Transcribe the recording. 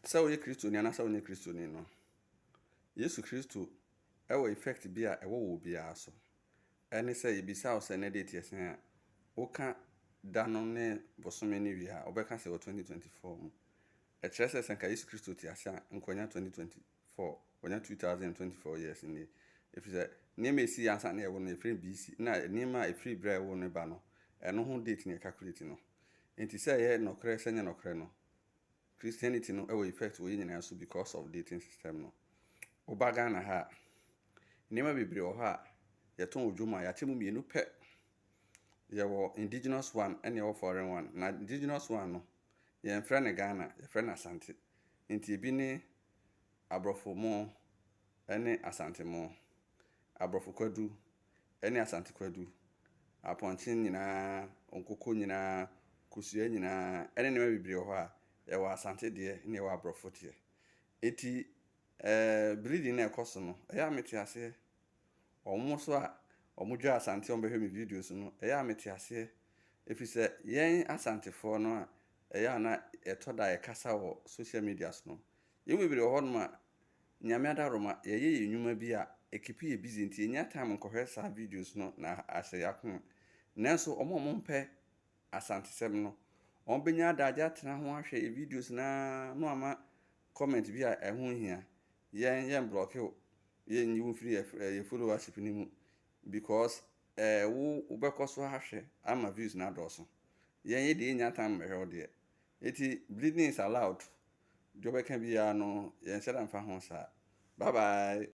Sɛ woyɛ Kristoni anaasɛ wonyɛ Kristoni no, Yesu Kristo wɔ effect bi a ɛwɔ wɔ obiara so. Ɛne sɛ yebisa wo sɛ nnɛ date yɛ sɛn a, woka da no ne bosome no wie a, wobɛka sɛ wɔ 2024 mu. Ɛkyerɛ sɛ sɛ nka Yesu Kristo te ase a, nka wanya 2024, wanya 2024 years nie. Ɛfiri sɛ nneɛma a ɛsii ansa na yɛwo no, yɛfrɛ no BC, na nneɛma a ɛfiri berɛ a yɛwoo no ba no, ɛno ho date na yɛcalculate no. Enti sɛ ɛyɛ nɔkorɛ sɛ ɛnyɛ nɔkorɛ no, Christianity no wɔ effect wɔ yɛn nyinaa so because of dating system no. Woba Ghana ha a, nneɛma bebree wɔ hɔ a yɛtɔn wɔ dwom a yɛakyɛ mu mmienu pɛ. Yɛwɔ indigenous one ɛne ɛwɔ foreign one. Na indigenous one no, yɛmfrɛ no Ghana, yɛfrɛ no Asante. Nti ebi ne Aborɔfo mo ɛne Asante mo, Aborɔfo kwadu ɛne Asante Kwadu, Apɔnkye nyinaa, Nkoko nyinaa, Kosua nyinaa, ɛne nneɛma bebree wɔ hɔ a, yɛwɔ Asante deɛ na yɛwɔ Aborɔfo deɛ. Enti eh, bleeding no a ɛkɔ so no, ɛyɛ a mete aseɛ. Wɔn nso a wɔdwaa Asante a wɔbɛhwɛ me videos no, ɛyɛ a mete aseɛ. Ɛfiri sɛ yɛn Asantefoɔ no a ɛyɛ a na ɛtɔ da a yɛkasa wɔ social medias no, yɛn mu bebree wɔ hɔnom a Nyame Adaroma yɛyɛ yɛn nwuma bi a ekepi yɛ busy nti yennya time nkɔhwɛ saa videos no na ahyɛ y'akoma. Nanso wɔn a wɔn mpɛ Asantesɛm no wɔn benya adagye atena ho ahwɛ yɛ videos no ara na wɔama comment bi a ɛho nhia. Yɛn yɛn blɔke wo, yɛn nyi wo mfiri yɛ followership no mu because eh wo wo bɛkɔ so ahwɛ ama views no adɔɔso. Yɛn yɛn deɛ yennya time mmɛhwɛ wo deɛ. Eti bleeding is allowed Deɛ ɔbɛka biara no yɛnhyɛ da mfa ho saa. Bye bye.